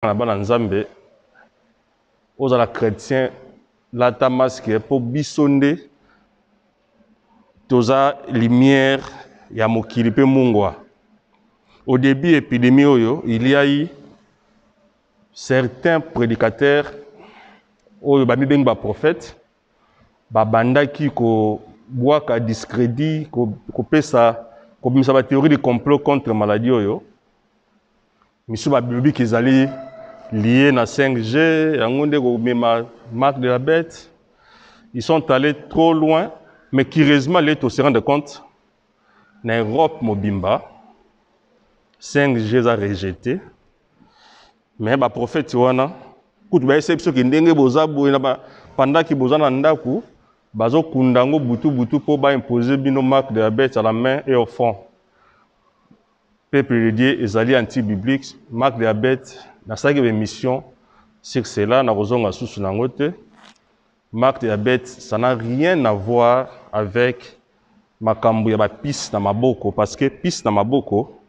na bana nzambe ozala chrétien lata masque mpo biso nde toza lumière ya mokili mpe mungwa au début epidémie oyo il y a eu certains prédicateurs oyo bamibengi baprofete babandaki kobwaka discrédit kopesa kobimisa bathéorie de complot contre maladie oyo Misu ba biobic ezali lier na 5G yango nde ko mema marque de la bête. Ils sont allés trop loin mais curieusement les to se rendre compte na Europe mobimba 5G eza rejeté mais ba prophètes wana kutu ba essaye biso ke ndenge boza boye na ba pendant que boza na ndaku bazo kunda ngo butu butu po ba imposer bino marque de la bête à la main et au front. Peuple de Dieu ezali anti biblique, marque de la bete, nasalaki ba emissions sur cela nakozonga lisusu na yango te. Marque de la bete ça n'a rien à voir avec makambo ya ba pisse na maboko parce que pisse na maboko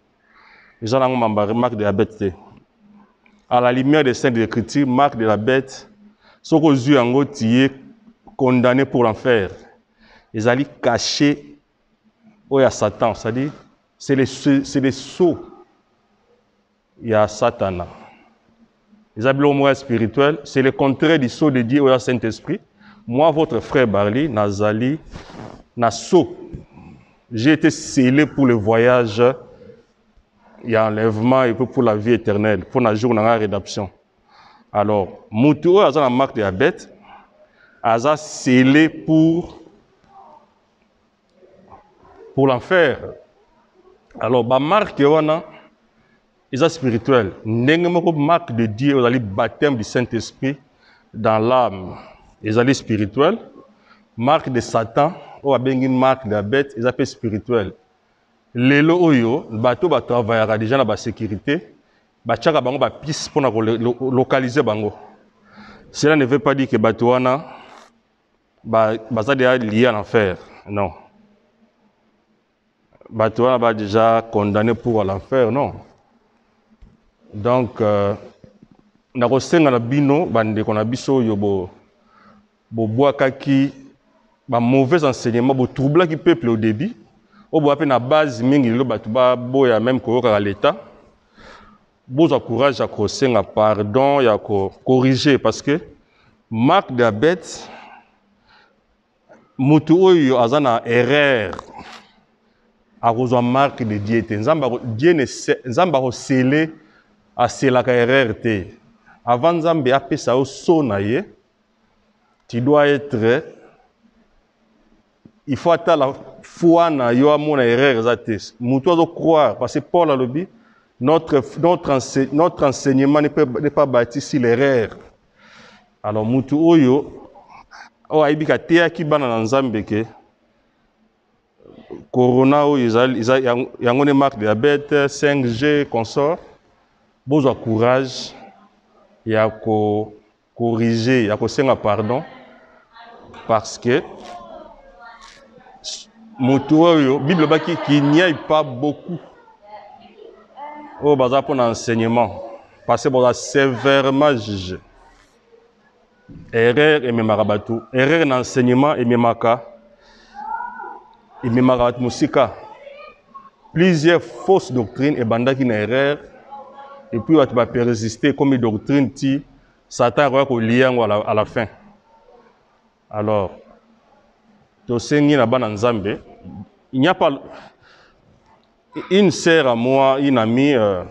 eza nango marque de la bete te. À la lumière des saintes écritures, marque de la bete soki ozwi yango tu es condamne pour l'enfer. Ezali cache oyo ya satan c'est-à-dire c'est le, c'est le sceau ya satana eza biloko moko ya spirituel c'est le contraire du sceau de dieu oyo ya saint esprit moi votre frère barly nazali na sceau j'ai été scellé pour le voyage ya enlèvement et puis pour la vie éternelle mpo na jour na ngai ya rédemption alors motu oyo aza na marque ya bete aza scellé pour pour l'enfer alors ba marque wana eza spirituel ndenge moko marque de dieu ozali baptême du saint esprit dans l'âme ezali spirituel marque de satan oyo abengi marque de la bête eza mpe spirituel lelo oyo bato batravayaka deja na basécurité batiaka bango bapise mpo na kolocalize bango cela ne veut pas dire ke bato wana ba baza deja lié en enfer non bato wana ba deja condamné pour l'enfer non donc euh, nakosenga na bino bandeko na biso oyo bo bobwakaki ba mauvais enseignement botroublaki peuple au début oyo boya mpe na base mingi lelo bato baboya meme koyokaka l'état bozwa courage ya kosenga pardon ya ko corriger parce que marque de la bête mutu oyo aza na erreur akozwa marque de dieu te nzambe dieu ne nzambe akosele aselaka erreur te avant nzambe apesa yo so na ye tu dois être il faut atala foi na yo amona erreur eza te mutu azo croire parce que paul alobi notre, notre, ense, notre enseignement n'est pas, pas bâti sur l'erreur alors mutu oyo oyo ayebi kateyaki bana na nzambe ke corona oyo ezali eza yango nde marque de la bête 5g consort bozwa courage ya ko corriger ya kosenga pardon parce que motu oyo bible obaki qu'il n'y ait pas beaucoup oyo baza mpo na enseignement parce que boza sévèrement juge erreur ememaka bato erreur na enseignement ememaka ememaka bato mosika plusieurs fausses doctrines ebandaki na erreur epuis bato baperesiste ekomi doctrine ti satan akoya kolia yango à la fin alors tosengi na bana nzambe il n'y a pas une sœur à moi une amie euh,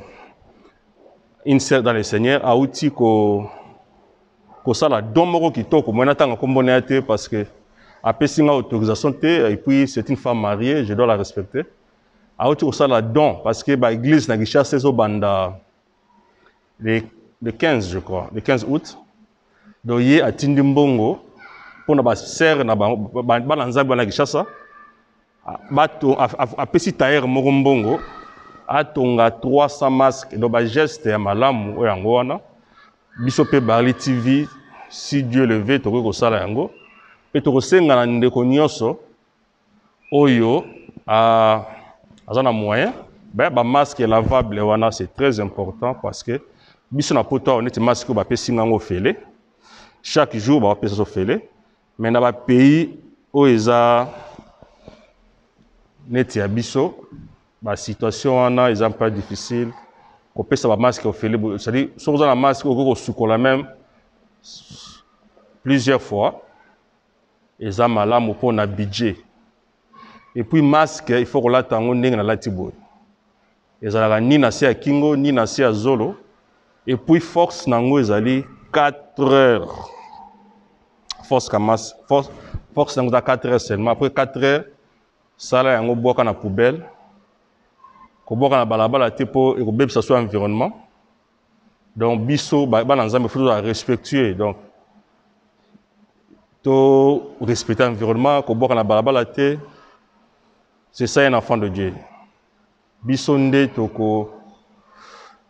une sœur dans le seigneur auti ko kosala don moko kitoko moi natanga nkombo na ye te parce que apesi nga autorisation te et puis c'est une femme mariée je dois la respecter auti kosala don parce que baeglise na kinshasa ezobanda le, le 15 je crois le 15 août donc ye atindi mbongo mpo na basere na bango bana nzambe wana kishasa bato apesi tailleur moko mbongo atonga 300 masque donc bageste ya malamu oyo yango wana biso mpe barli tv si dieu leve tokoki kosala yango mpe tokosenga na ndeko nyonso oyo a aza na moyen baya ba masque lavable wana c'est très important parce que biso na poto awa neti masque oyo bapesi ngango ofele chaque jour bapesa so ofele mais na bapays oyo eza neti ya biso basituation wana eza mpe difficile kopesa bamaske ofele cestadire soki oza na maske okoki kosukola meme plusieurs fois eza malamu mpo na budget epuis masque il faut kolata yango ndenge nalati boye ezalaka ni na se ya kingo ni na se ya zolo epuis force na yango ezali 4 heures force ka mas force, force na yango eza 4 heures seulement après 4 heures sala yango bwaka na poubelle kobwaka na balabala te mpo ekobebisa so environnement donc biso bana nzambe fo tozala respectueux donc to respecte environnement kobwaka na balabala te c'est ça un enfant de dieu biso nde toko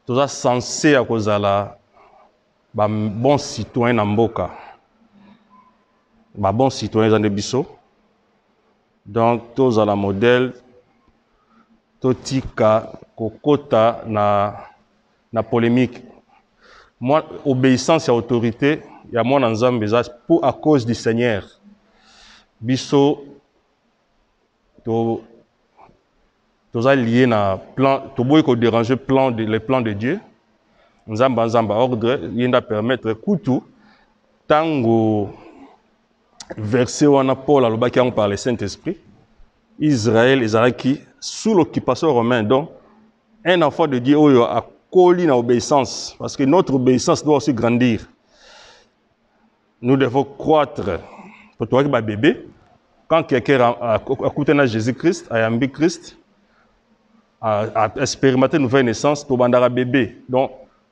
toza sense ya kozala ba bon citoyen na mboka ba bon citoyen eza nde biso donc tozala modèle totika kokota na, na polemique Moi, obéissance ya autorité ya mwana nzambe eza pour à cause du seigneur biso to toza lié na plan toboyi koderange plan de, le plan de dieu nzambe anzamba ordre ye nde apermettre kutu ntango verset wana Paul alobaki yango par le Saint-Esprit. Israël ezalaki sous l'occupation romaine. Donc un enfant de Dieu oyo akoli na obéissance parce que notre obéissance doit aussi grandir. Nous devons croître. Pour toi qui ba bébé, quand quelqu'un a écouté na Jésus-Christ, a yambi Christ, a, a expérimenté une nouvelle naissance, tobandaka bébé. Donc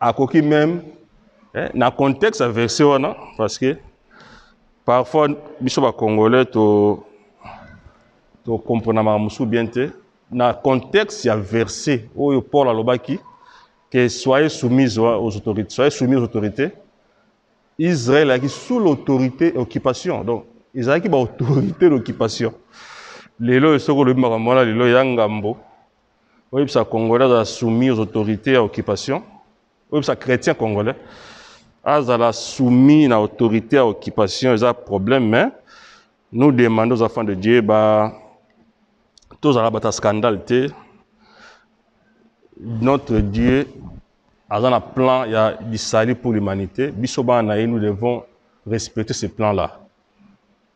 akoki meme eh, na contexte ya verset wana parce que parfois biso bacongolais to tokomprenamaka mosusu bien te na contexte ya verset oyo paul alobaki que soyez soumise aux autorités soyez soumis aux autorités israel ayaki sous l'autorité occupation donc ezalaki baautorité d'occupation lelo soki olobi makambo wana lelo ya ngambo oyebisa congolais azala soumis aux autorités ya occupation oyebisa chrétien congolais azala soumis na autorité ya occupation eza problème mais nous demandons aux enfants de dieu ba tozala bato ya scandale te notre dieu aza na plan ya lisali pour l'humanité biso bana na ye nous devons respecter ce plan là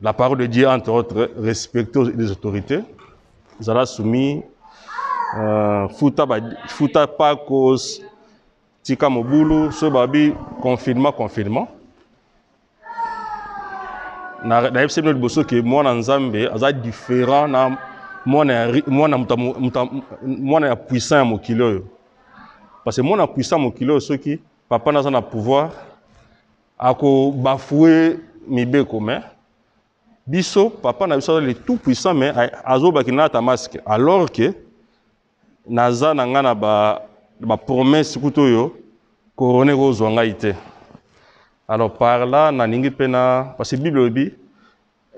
La parole de Dieu, entre autres, respecte les autorités. Zala soumis, euh, futa, ba, futa pakos, tika mobulu, so babi, confinement, confinement. Na, na yebisi bino liboso ke mwana nzambe aza différent na mwana ya ri- mwana muta- muta- mwana ya puissant ya mokili oyo parce que mwana ya puissant ya mokili oyo soki papa naza na pouvoir Ako bafoue mibeko mais biso papa na biso le tout puissant mais azoba kinata masque alors que naza na nga na ba ba promesse kuto yo corona ekozwa ngai te alors par là nalingi mpe na parce que bible elobi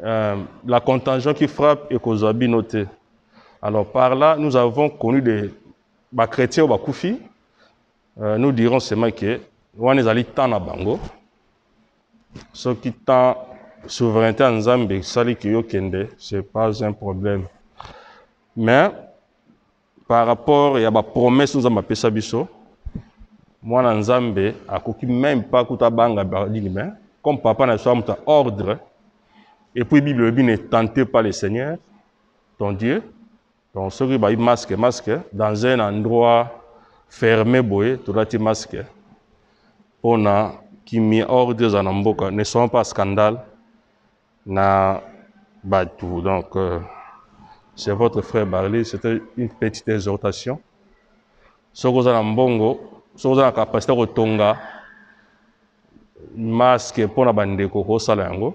euh, la contagion qui frappe ekozwa bino te alors par là nous avons connu des bachrétien oyo bakufi Euh, nous dirons seulement que wana ezali temps na bango soki temps souveraineté ya nzambe esali ke yokende c'est pas un problème mais par rapport ya bapromesse nzambe apesa biso mwana nzambe akoki meme pas kuta banga badini mais comme papa na biso amuta ordre et puis bible elobi ne tente pas le seigneur ton dieu Donc soki bayi masque masque dans un endroit ferme boye tolati masque pona kimia ordre eza na mboka ne soyons pas scandale na batu donc euh, c'est votre frère Barley c'était une petite exhortation soki oza na mbongo soki oza na capacité ya kotonga masque mpo na bandeko kosala yango